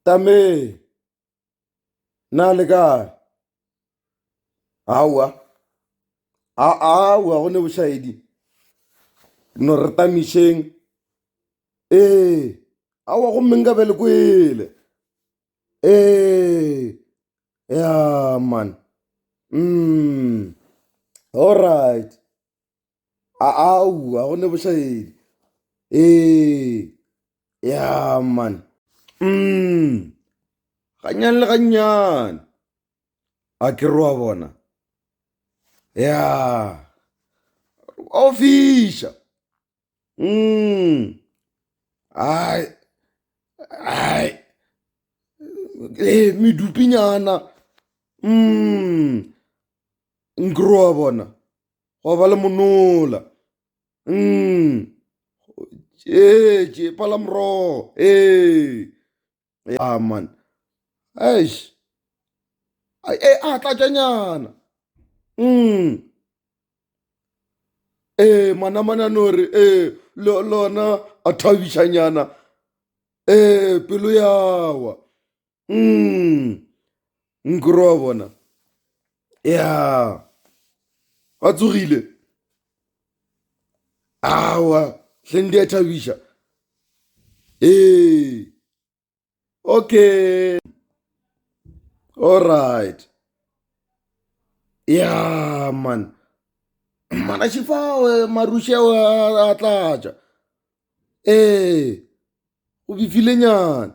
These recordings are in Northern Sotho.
Tame! Na le kae? Aowa. Aowa go ne bošaedi. No re tamišeng. Ee. Aowa go mmeng ka be le kwele. Ee. Ya man. Mm. All right. aowa go ne bošaedi ee ya mane um gannyane le gannyane a ke re wa bona ya o fiša um ai ai medupinyana um nkere wa bona gwa ba le monola um ee tše pala morogo ee aman eish e a tlatšanyana um ee manamana no re ee lona a thabišanyana ee pelo yawa mm. nkore wa bona ya ba tsogile awa hleng di a thabiša ee okay all right ya man mana šifawe marushewe a tlatša ee go bifilenyana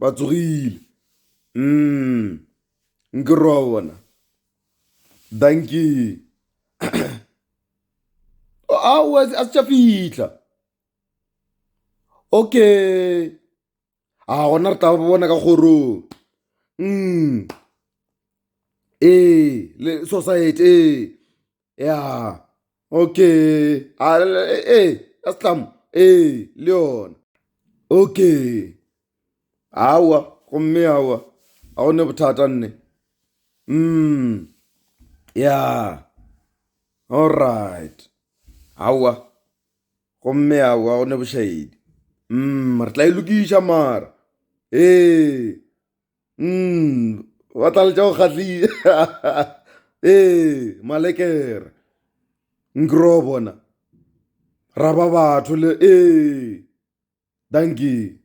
ba tsogile mm. nke roa bona danki ao a se tša fitlha okay a gona re tla bona ka kgorong mm ee le society ee ya okay a e ya setlamo ee le yona okay aowa gomme aowa ga go ne bothata nne mm ya allright aowa gomme aowa go ne bošaedi mm re tla e lokiša mara ee. mm, ba tla letša go kgatlile ee malekere nkro bona ra ba batho le ee dankie